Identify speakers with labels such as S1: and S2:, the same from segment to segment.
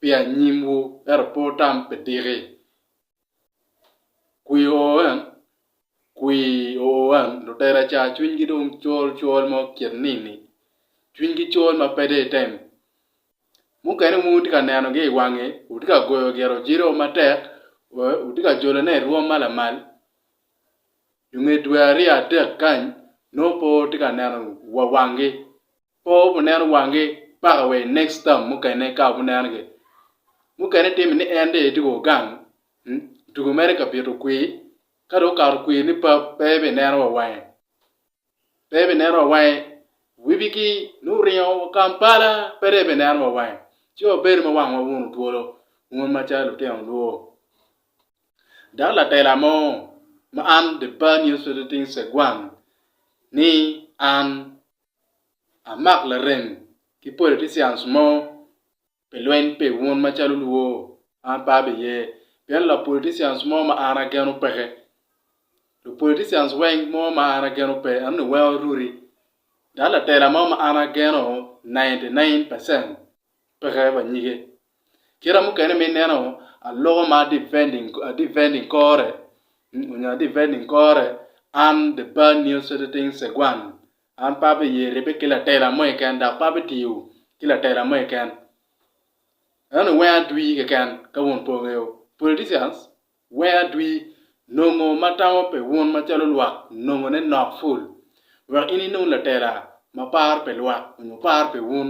S1: pi anyimwu ento pe wutam pi diki. Kwir oo en, kwir oo en, lutela ca cwinygi dong col col mo kit nini, cwinygi col ma pe deyo item. Mukene wun wutye ka nenogi i wangi, wutye ka goyo gire ojiro oo matek, wutye ka jolone i rwom ma lamal, i nge dwe aryo adek kany nongo pe wutye ka neno wa wangi. Pe wubineno wangi paka wa i next term mukene ka wubineno gi. Mukene timi ni en dong etye ka gang tugo mere ka bito kwir ka dong okato kwir ni pap pe bineno wa wange. Pe bineno wa wange wibigi nongo oringo wa Kampala pe dong ebineno wa wange. Ci wabedo ma wangwa wunu twolo un macalo lutino nwo. Dok latela mo ma an The Bar News Editing Segwang ni an. amak larem ki politicians mo pi lweny pi wun macalo luo an pe abi ye pien la politicians mo ma an ageno peke lu politicians weng mo ma an ageno pe anongo weng oruri dok latela mo ma an ageno ninety nine percent peke pa nyige. Kite mukene ma ineno aloko ma defending kore nyo adefending kore an the bad news sediting segwan an pe abeye ribbe ki latela mo keken dok pe abitiyo ki latela mo keken eno weng adwi keken ka wun pe wungeyo politicians weng adwi nongo ma tamo pi wun macalo lwak nongo ne nok ful wek in inong latela ma paro pi lwak nyo paro pi wun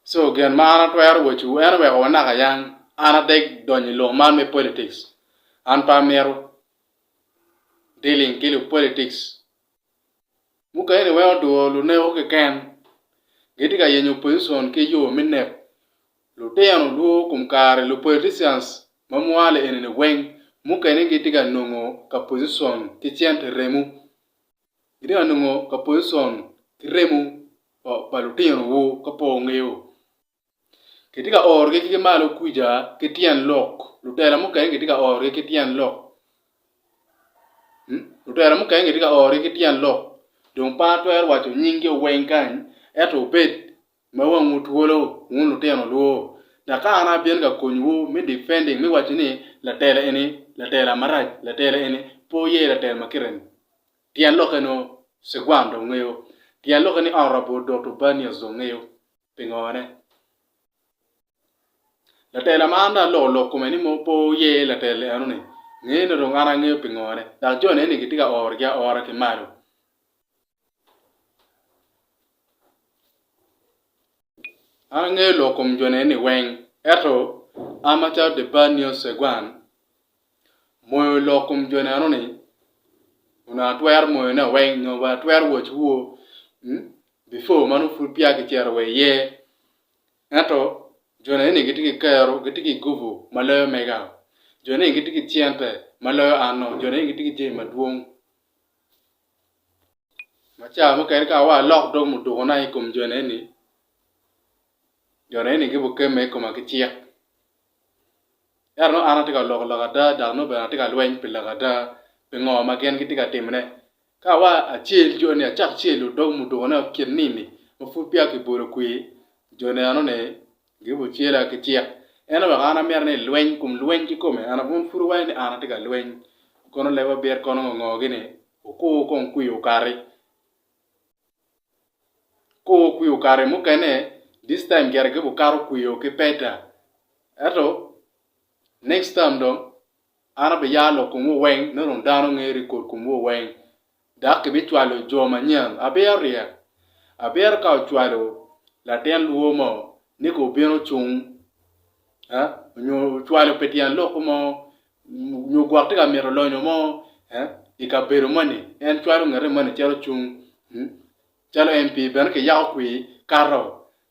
S1: So gin ma an atwero wacowu en oweko wanaka yang an adeg donyo i lok man me politics an pe amito dealing ki lu politics mukene iweko duro luneko keken gitye ka yenyo position ki yo me nek Lutino lwor kom kare lu politicians ma mwalo enini weng, mukene gi tye ka nongo ka position ki cente remo, gi tye ka nongo ka position ki remo pa lutino wu ka po wungeyo, ki tye ka oro gi ki malo kwica ki tyen lok, lutela mukene gi tye ka oro gi ki tyen lok, lutela mukene gi tye ka oro gi ki tyen lok, dong pe atwero waco nying jo weng kany, ento obed Ma wangwu twolo, wun lutino lwor, dok ka an abino ka konyowu me defending me waco ni latela eni latela marac, latela eni pe oye latela ma kite ni. Tyen lokke nongo ciguan dong ngeyo. Tyen lokke ni Honourable Dot Urbanius dong ngeyo. Pingo ne? Latela ma an dong aloko lok kome ni pe oye latela eno ni, ngene dong an angeyo pingo ne? Dok jone eni gitye ka oro gi aora ki malo. An angeyo lok kom jone ni weng eto an macalo the bad news Segwan moyo lok kom jone eno ni onongo atwero moyo ne weng nyo wa atwero watch wo before ma nongo pud peya kicito wa iye ento jone eni gitye ki kero gitye ki gubu ma loyo mega jone eni gitye ki cente ma loyo an-o jone eni gitye ki jami madwong Ma ca mukene ka awa alok dog mudukuna i kom jone eni, jone eni gibukemme i koma ki cik. Ento nongo an atye ka loko lok ada dok nongo bene atye ka lweny pi lok ada pi ngo ma gin gitye ka timone. Ka awa acel joni acak celo dog mudukuna kit nini ma pud peya kibolo kwir, jone enoni Girubo cela ki tyek. Ento wek an amyero ni lweny kum lweny kikome, an abun pud owaco ni an atye ka lweny. Kono leb abit kono ngo ngo gini, okur kong kwi okati. Okur kwi okati mukene, this time gire gibo kato kwi o ki peta. Eto next time dong. An abiyaro lok komwu weng, nongo dong dano nger i kor komwu weng, dok kibicwalo jo manyen. Abiyero ryek. Abiyero ka ocwalo latin lwo mo ni kong obin ocung, nyo ocwalo pi tyen lok mo, nyo gwok tye ka mito lonyo mo i kabedo moni, en cwalo ngete moni cito cung. Calo MP bene kiyako kwir kato,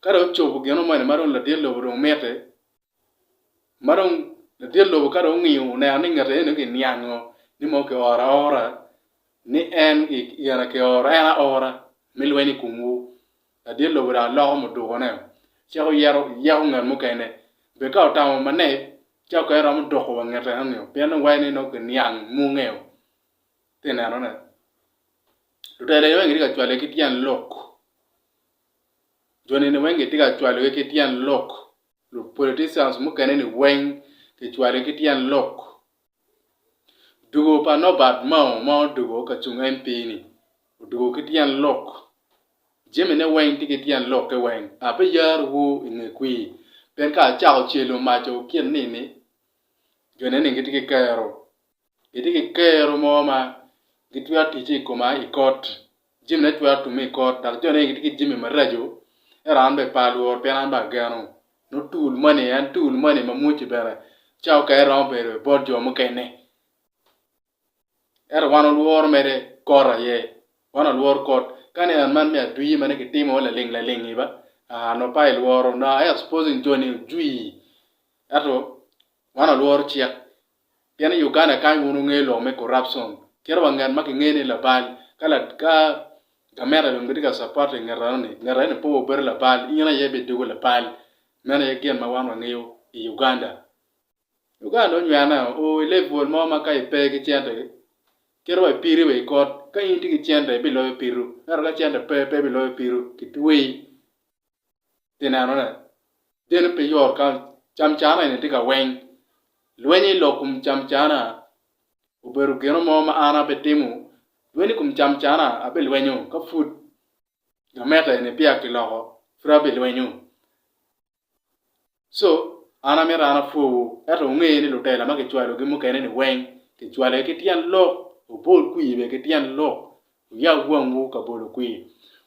S1: ka dong ocobo gino moni ma dong latin lobo dong mitte, ma dong ladit lobo ka dong ongiyo oneno ni ngete eno kiniango ni mono kioro aora ni en gin kioro en aora me lweny i komwu ladit lobo dong aloko mudukone cito yeko ngat mukene bed ka otamo mane ca okene romo doko wa ngete enoni o pien dong wacci ni nongo kiniang munge o ati ineno ne lutela eni weng gitye ka cwale ki tyen lok, jo neni weng gitye ka cwalo gi ki tyen lok Lub politicians mukene ni weng kicwali ki tyen lok. Dugo pa Norbert Mao ma odugo ka cung MP ni odugo ki tyen lok. Jami ne weng tye ki tyen lokke weng. Ape yar wu i nge kwir. Pien ka acako celo maco kit ni ni, jo ne ni gitye ki kero. Gitye ki kero mo ma gitwero ticce i koma i kot, jamine twero tumme i kot, dok jone gitye ki jami maraco, ento an bene pe alworo pien an bene ageno. Nongo tool moni, en tool moni ma mwocci bene cawa mukene romo bedo i bot jo mukene. Ento wan walworo mere kot aye, wan walworo kot. Ka ni ot man me adwir ma nongo kitimo laling laling-ngi ba, aa nongo pe ilworo. Now I am supposing joni ojwir, ento wan walworo cik. Pien i Uganda kany wun wungeyo lok me corruption. Kit wa nget ma ki ngeyo ni labal, ka la, ka gameta dong gitye ka support i nget eno ni, nget eno ni pe wa bedo labal, in aye bi doko labal. Meno aye gin ma wan wa ngeyo i Uganda. Uganda onywene o i level mo ma ka i pe ki cente, kit wa i piri wa i kot, ka in itye ki cente i bi loyo pitu, ento ka cente pe, pe i bi loyo pitu, ki tweyi. Pi nenone, geno pi yot ka camcana eni tye ka weng. Lweny i lok kom camcana obedo geno mo ma an abitimo. Lweny i kom camcana abilwenyo ka pud gameta eni peya kiloko, pud abilwenyo. Co, An amito an apwowu, ento wunge ni lutela ma kicwalogi mukene-ni weng, kicwalogi ki tyen lok, wubol kwir bene ki tyen lok, wuyab wangwu ka bolo kwir.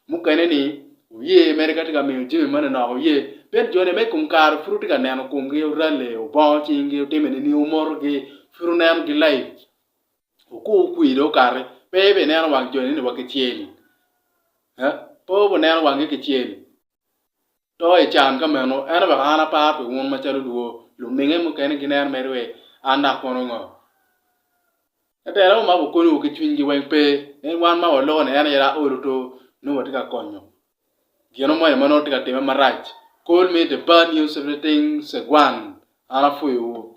S1: Mukene-ni wuye mere ka tye ka miyo jami moni nok, wuye, pien joni ma i kom kare pud wutye ka neno komgi, wuralle, wubongo cinggi, wutime nining, wumotogi, pud wunenogi laic. Wukur wukwir dong wukati, pe ibineno wang joni-ni wa kicel, pe wubineno wangi kicel. to i can ka meno, ento wek an apar pi wun macalo lwor, luminge mukene ginen mere wek an dok kono ngo? Ka terawu ma gukonyowu ki cwinygi weng pe, en wan ma waloko-ni en aye dok olo to nongo watye ka konyo gino moni ma nongo tye ka timme marac. Call me the bad news everything Segwan, an apwoyowu.